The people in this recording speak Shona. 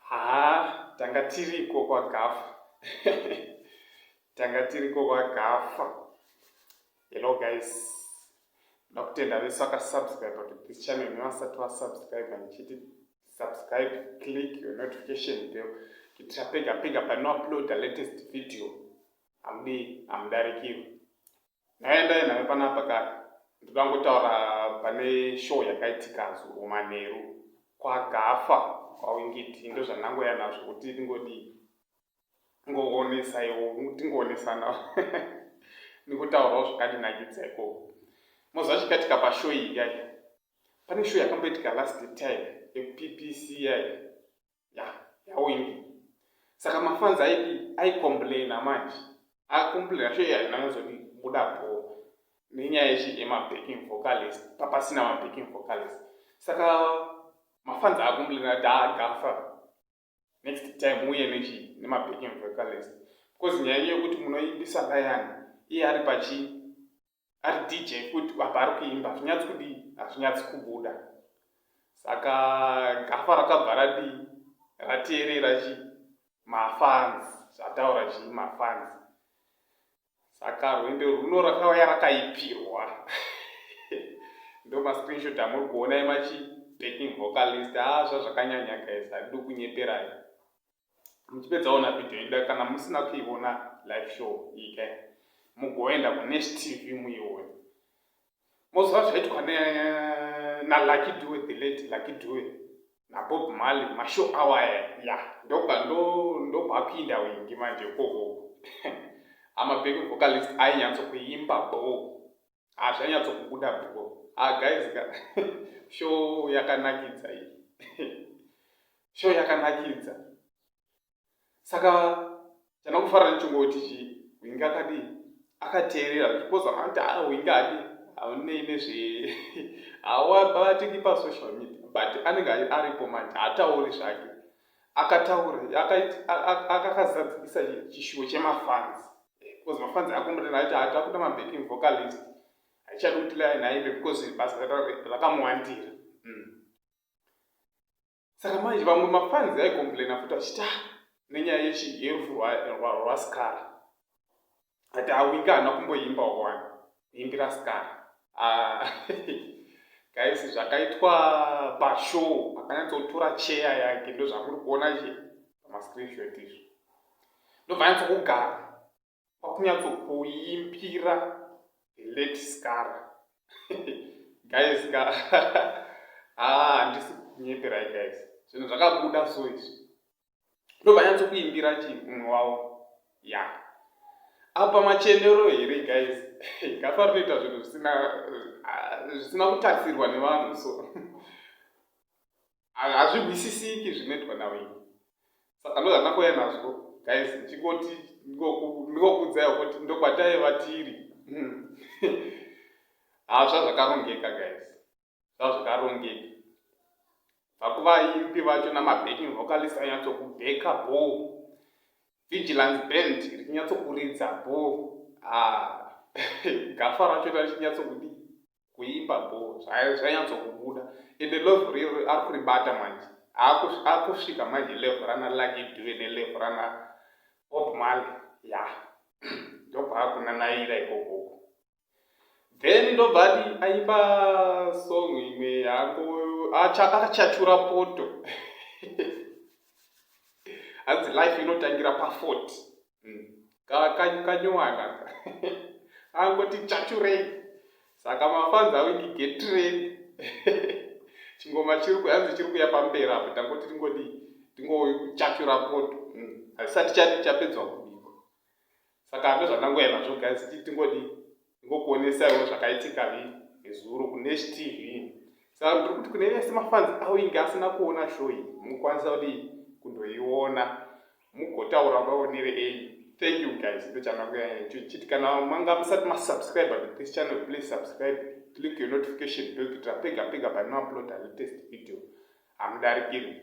Haa, tanga tiriko kwagafa. tanga tiriko kwagafa. Hello guys. Ndakutenda vese vakasubscribe to this channel nevasati vasubscribe ndichiti subscribe, click your notification bell kuitira pega pega panouploada latest video. Hamudi, hamudarikirwi. Ndaendai nayo panapa kaka. Ndoda ngotaura pane show yakaitika zuro manheru kwagafa kwawingiti ndozvandangoya nazvo kuti ndingodii ngoonesaiwo tingoonesana ndikutaurawo zvakandinakidza ikoko moziva chikaitika pashow iyi yai pane show yakamboitika last time yekuppc yai ya yawindi saka mafanzi aidi aicomplaina manje acomplaina sho yaina yozoti buda bho nenyaya yechi yemabacking vocalist papasina mabacking vocalist saka mafanzi acomplaina kuti agafa next time uye nechi nemabacking vocalist because nyaya yekuti munoimbisa rayani iye ari pachii ari dj futi apa ari kuimba hazvinyatsi kudii hazvinyatsi kubuda saka gafa rakabva radii rateerera chii mafans zvataura chii mafans saka rwendo rwuno rakauya rakaipirwa ndo mascreenshot amuri kuona emachi backing vocalist haa ah, zvazvakanyanya guys hadido kunyeperai muchipedza ona video ida kana musina kuiona live show ike mugoenda kunesh tv muione moziva zvaitwa nalucky due the late lucky due nabob mali mashow awaya ya ndokwakuinda ndo, ndo wingi manje koko amabheki vocalist ainyatso kuimba boo Ah zvanyatso kubuda bro. Ah guys ka show yakanakidza iyi. show yakanakidza. Saka chana kufara nchongo tichi winga kadi akateerera because anta ah winga adi aune ine zve awa bati ki pa social media but anenge aripo manje atauri zvake. akataura akakazadzikisa chishuwo chemafans because mafans akomborera aiti hatakuda mabacking vocalist haichadi kuti line aimbe because basa rakamuwandira mm. saka manje vamwe mafans aicomplaina futi achita ah, nenyaya yechi yerufu rwaskara Ati awinga haana kumboimba wani imbira skar ah, guys zvakaitwa pashow akanyatsotora cheya yake ndo zvamuri kuona che pamascreenshot izvo ndobva nyatsokugara kwakunyatsokuimbira late skar guys ka ah, handisi kunyeperai guys zvinhu zvakabuda so izvi ndobva nyatsokuimbira chi mumwe wavo ya apa machenero here guys gafa rinoita zvinhu zvisina ah, zvisina kutarisirwa nevanhu so hazvihwisisiki zvinoitwa naweni saka ndozvandakoya nazvo guys ndichingoti ndingokuudzaiwo kuti ndokwataiva tiri hmm. hazva zvakarongeka guys zvazvakarongeka bva kuvaimbi vacho namabacking vocalist anyatsokubheka bo vigilance band richinyatsokuridza bo ah, gafa racho rachinyatsokuda kuimba bo zvanyatsokubuda ende love riro ari kuribata manje akusvika manje levo rana lucky due nelevo rana bob male ya ndobva akunanaira ikokoko then ndobva ati aimba song imwe yangu akachachura poto hanzi life inotangira pafort hmm. kanyowana angoti chachurei saka mafanzi awiki getredi chingoma chiri kuyanzi chiri kuya pamberi apo tangoti tingodi tingochachura poto hmm. hasisati chati chapedzwa kubiko saka ndozvandangoya nazvo guys ti tingodi ingokuonesaiwo zvakaitika vi nezuro kunesh tv saka tiri kuti kune vese mafanzi avo inge asina kuona show iyi mukwanisa kuti kundoiona mugotaura vaonere ei thank you guys ndo chandangoyaechiti kana manga musati masubscribe to this channel please subscribe click your notification bell kuitira pega pega panouploada latest video hamudarikiri